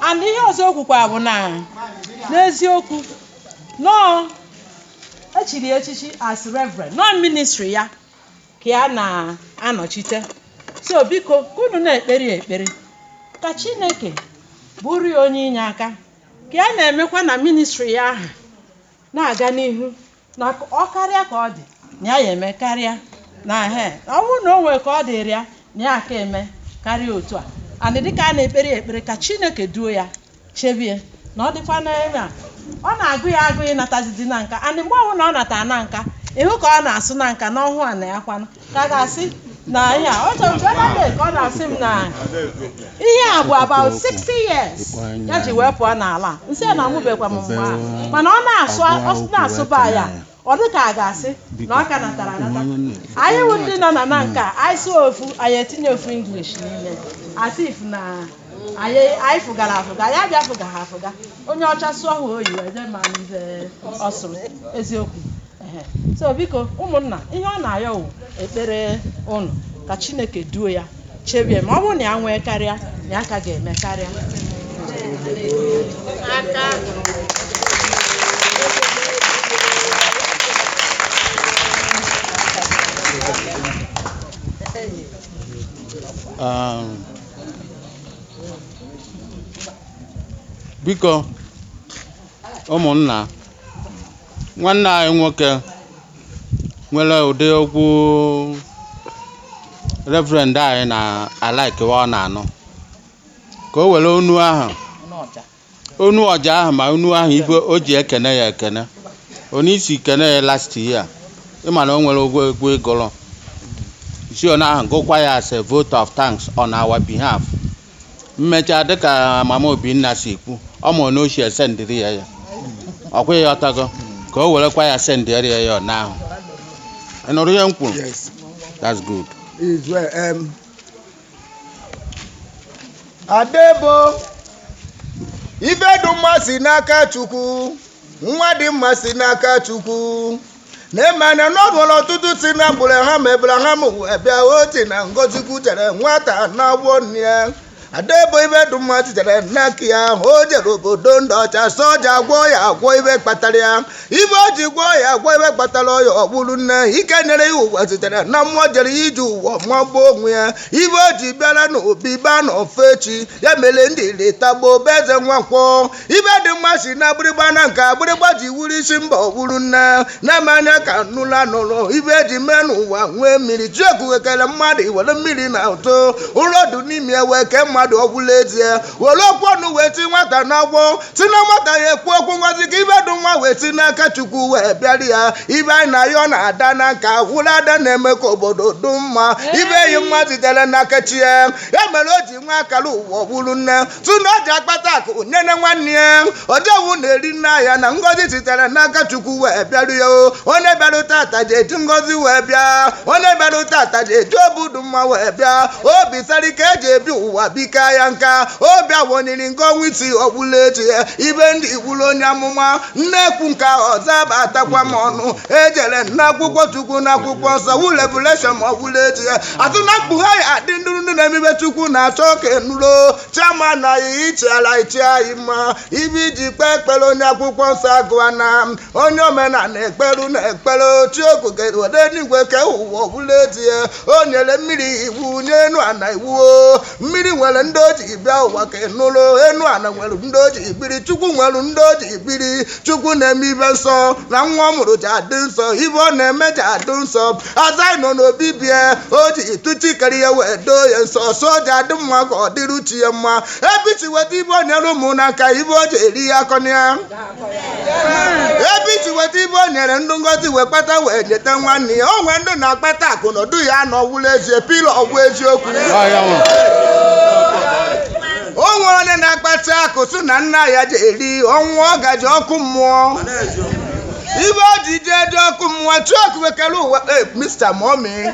and ihe ọzọ o kwukwa bụ na n'eziokwu na e chiri ya echichi as reverend na ọ ministry ya ka ya na-anọchite so biko ka unu na-ekpere ya ekpere ka Chineke bụrụ ya onye inyeaka ka ya na-emekwa na ministry ya ahụ na-aga n'ihu na ọ karịa ka ọ dị na ya ya eme karịa na he ọ bụrụ na o nwere ka ọ dịrị ya na ya aka eme karịa otu a and dịka a na-ekpere ya ekpere ka Chineke duo ya chebie na ọ dịkwa n'ebe a ọ na-agụ ya agụ ịnatazizi Nanka and mgbe ọbụla ọ natara Nanka ị hụ ka ọ na-asụ Nanka na ọhụụ a na ya kwanụ ka a ga-asị na ihe a ọ chọrọ mgbe na ka ọ na-asị m na ihe a bụ about 60 years ya ji wee pụọ n'ala a. m sị ya na amụbekwa m mgbe ahụ mana ọ na-asụba ya ọ dị ka a ga-asị na ọ ka natara anata anyị wụ ndị nọ na Nanka anyị sụọ ofu anyị etinye ofu English n'ime as if na anyị anyị fụgara afụga anyị abịa fụga ha afụga onye ọcha sụọ ha oyi wee jee ma nke ọ sụrụ eziokwu so biko ụmụnna ihe ọ na-ayọ wụ ekpere unu ka Chineke duo ya chebie ma ọ bụrụ na ya nwee karịa na ya ka ga-eme karịa Um, biko ụmụnna nwanne anyị nwoke nwere ụdị egwu reverend anyị na-alikekwa ọ na-anụ ka o were onu ahụ onu ọja ahụ ma onu ahụ ife o ji ekene ya ekene onye isi kene ya last year ị ma na o nwere egwu ị gụrụ i si onu ahụ gụkwa ya as a vote of thanks on our behalf m mechaa dịka mama Obinna si kwuo ọ ma na ochie sendịrị ya ya ọkwa ya ọtago ka o werekwa ya sendịrị ya ya ọ n'ahụ ị nụrụ ihe m kwuru Yes. that's good Is well. Um, Adebo ife dị mma si n'aka Chukwu nwa dị mma si n'aka Chukwu na-emana na ọ nwere ọtụtụ si na mgbụrụ ha ma Abraham wee bịa oti na ngọzi kwutere nwata na-agwọ nne ya Adebo ife dị mma sitere n'aka ya o jere obodo ndị ọcha soja gwọọ ya agwọ ife kpatara ya ife o ji gwọọ ya agwọ ife kpatara ya ọ bụrụ nne ike nyere ya ụwa sitere na mmụọ jere ije ụwa magbuo onwe ya ife o ji bịara n'obi baa n'ofe echi ya mere ndị retagbo be Eze Nwankwọ ibe dị mma si na agbịrịgba na nke agbịrịgba ji wuru isi mba ọgburu nne na-eme anya ka nụla nụrụ ibe eji mee n'ụwa nwee mmiri chukwu we kere mmadụ were mmiri na ụtụ ụlọ dị n'ime ya wee kee mmadụ ọ wụrụ ezie were okwu ọnụ wee ti nwata n'agwọ si na nwata ya ekwu okwu ngozi ka ibe dị nwa wee si n'aka chukwu wee bịara ya ibe anyị na ya ọ na-ada na nka wụrụ ada na-eme ka obodo dị mma ibe enyi mma sitere n'aka chi ya ya mere o ji nwa akara ụwa ọgburu nne tụ na o ji akpata akụ nyere nwanne ya odewu na-eri nne ya na ngozi sitere n'aka chukwu wee bịaru ya o. onye bịarụ tata ji eji ngozi wee bịa onye bịarụ tata ji eji obi dị mma wee bịa obi siri ike eji ebi ụwa bika ya nka obi awonyiri nke ọnwa isi ọ wụrụ ezie ibe ndị igburu onye amụma nnekwu nke ọzọ abatakwa m ọnụ ejere n'akwụkwọ chukwu n'akwụkwọ nsọ wụ revelation ma ọbụla echi ya atụ na mkpughe anyị adị ndụ na-eme ibe chukwu na-achọ ka enuro chama na ya ichiala ichi anyị mma ibe eji kpee ekpere onye akwụkwọ nsọ agụwa na onye omenala ekperu na ekpere chi okike we dị n'igwe kee ụwa ọ wụrụ ezie o nyere mmiri iwu nye enu ana iwu mmiri nwere ndị o ji bịa ụwa ka ị nụrụ enu ana nwere ndị o ji biri chukwu nwere ndị o ji biri chukwu na-eme ibe nsọ na nwa ọ mụrụ ji adị nsọ ibe ọ na-eme ji adị nsọ aza nọ n'obi bie o ji tụ chi kere ya wee doo ya nsọ so o ji adị mma ka ọ dịrụ chi ya mma ebe chi weta ibe o nyere ụmụ n'aka ibe o ji eri ya akọna ya ebe chi weta ibe o nyere ndụ ngozi wee kpata wee nyeta nwanne ya o nwee ndụ na-akpata akụ n'ọdụ ya na ọ wụrụ ezie pilo ọ wụ eziokwu o nwee onye na-akpata akụ sị na nna ya ji eri ọ nwụọ ọ ga-eje ọkụ mmụọ ibe o ji jee dị ọkụ mmụọ chukwu we kere ụwa eh, Mr. Mommy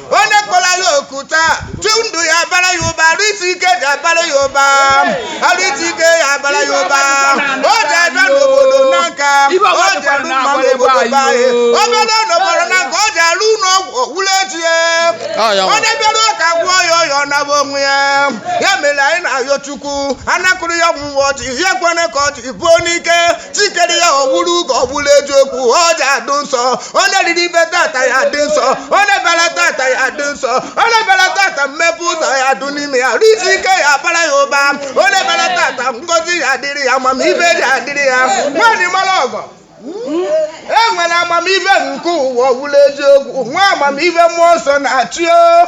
onye kpọrọ ya oku tata ndụ ya abara ya ụba arụ isi ike ji abara ya ụba arụ isi ike ya abara ya ụba o ji abịa n'obodo n'aka o ji arụ mma n'obodo be anyị o bịara n'obodo n'aka o ji arụ ụlọ ọgwụ ọ wụrụ ezie onye bịara ụka gwụọ ya ọya ọ naba onwe ya ya mere anyị na-ayọ chukwu anakụrụ ya ọgwụ mgbe ọchị ya ekwene ka ọchị buo n'ike chi kere ya ọ wụrụ ugo ọ wụrụ eziokwu ọ ji adụ nsọ ọ na-eriri ibe tata ya dị nsọ ọ na-ebere tata ya dị nsọ ọ na-ebere tata mmepe ụzọ ya dụ n'ime ya arụ isi ike ya bara ya ụba ọ na-ebere tata ngozi ya adịrị ya amamibe ji adịrị ya nwaanyị mara ọgọ e nwere amamibe nke ụwa ọ wụrụ eziokwu nwa amamibe mmụọ nsọ na-achị o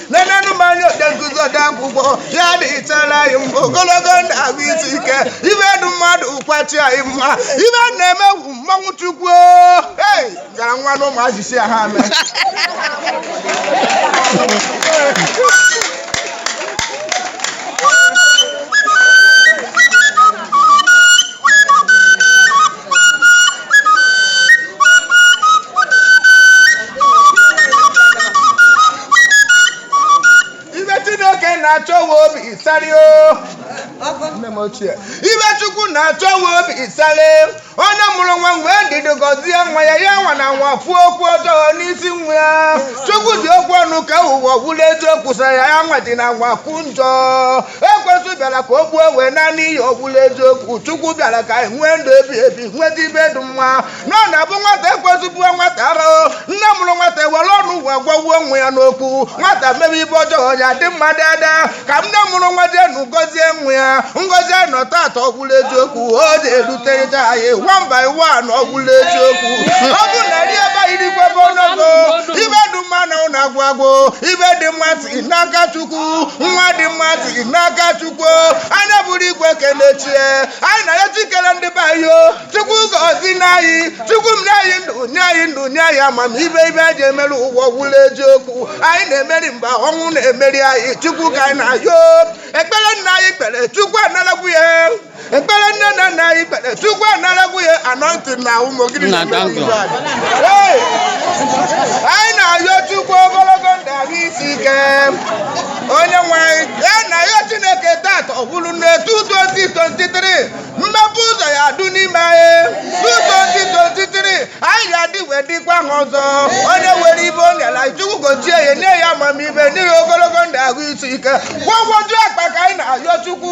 nenenu m anya ode nkụzi ode akwụkwọ ya dịchara anyị mma ogologo ndụ ahụ isi ike ibe dụ mma dụkwa chi anyị mma ibe a na-eme wu mmanwụ chukwu ei gara nwa na ụmụazị sị ya ha mee ibe chineke na-achọ wụ obi ịsarị o nne m ochie ibe chukwu na-achọ wụ obi ịsarị onye mụrụ nwa nwee ndidi gọzie nwa ya ya anwana anwa kwuo okwu ọjọọ n'isi nwa ya chukwu ji okwu ọnụ kee ụwa ọgwụla eziokwu sara ya anwadịna anwa kwu njọ ekwensu bịara ka o gbuo wee naa n'iyi ọgwụla eziokwu chukwu bịara ka anyị nwee ndụ ebi ebi nweta ibe dị mma na ọ na-abụ nwata ekwensu buo nwata arahụ nne mụrụ nwata were ọnụ wee gwagwuo nwa ya n'okwu nwata mebe ibe ọjọọ ya dị mma tata ka nne mụrụ nwa jeenụ gọzie nwa ya ngọzi anyị nọ tata ọgwụla eziokwu o ji eruterịta anyị one by one ọgwụla eziokwu ọ bụ na rie ebe anyị dịkwa ebe ọnọgo ibe dị mma na ụlọ agwụ agwụ ibe dị mma si n'aka chukwu nwa dị mma si n'aka chukwu anyị abụrụ igwe kene chi anyị na ya chi kere ndị be anyị o chukwu gọzienụ anyị chukwu m nye anyị ndụ nye anyị ndụ nye anyị amamibe ibe anyị ji emeri ụwa ọgwụla eziokwu anyị na-emeri mba ọnwụ na-emeri anyị chukwu ka anyị na-ayọ ekpere nna anyị kpere chukwu analagwo ya ekpere nne na nna anyị kpere chukwu anaragwo ya anọntị na ụmụ gịnị Nna, na-eme thank you. n'ihu anyị? Hey! anyị na-ayọ chukwu ogologo ndụ ahụ isi ike onye nwe anyị na-ayọ chineke tata ọ bụrụ na etu 2023 mepe ụzọ ya adụ n'ime anyị 2023 anyị ga-adị wee dịkwa ahọ ọzọ onye were ibe o nyere anyị chukwu gochie ya nye ya amamibe nye ya ogologo ndụ ahụ isi ike gwọgwọju akpa ka anyị na-ayọ chukwu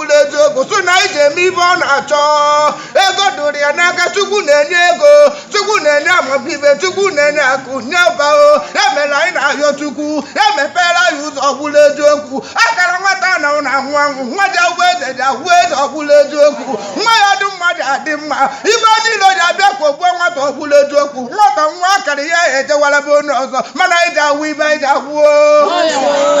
ọbụla eziokwu sị na anyị ga-eme ibe ọ na-achọ ego dụrụ ya n'aka chukwu na-enye ego chukwu na-enye amamibe chukwu na-enye akụ nye ụba o ya mere anyị na-ayọ chukwu ya mepere anyị ụzọ ọbụla eziokwu akara nwata na ụna anwụ anwụ nwa ji awụ eze ji awụ eze ọbụla eziokwu nwa ya dị mma ji adị mma ibe niile ji abịa ka o gbuo nwata ọbụla eziokwu nwata nwee akara ya ejewara be onye ọzọ mana anyị ji awụ ibe anyị ji awụ o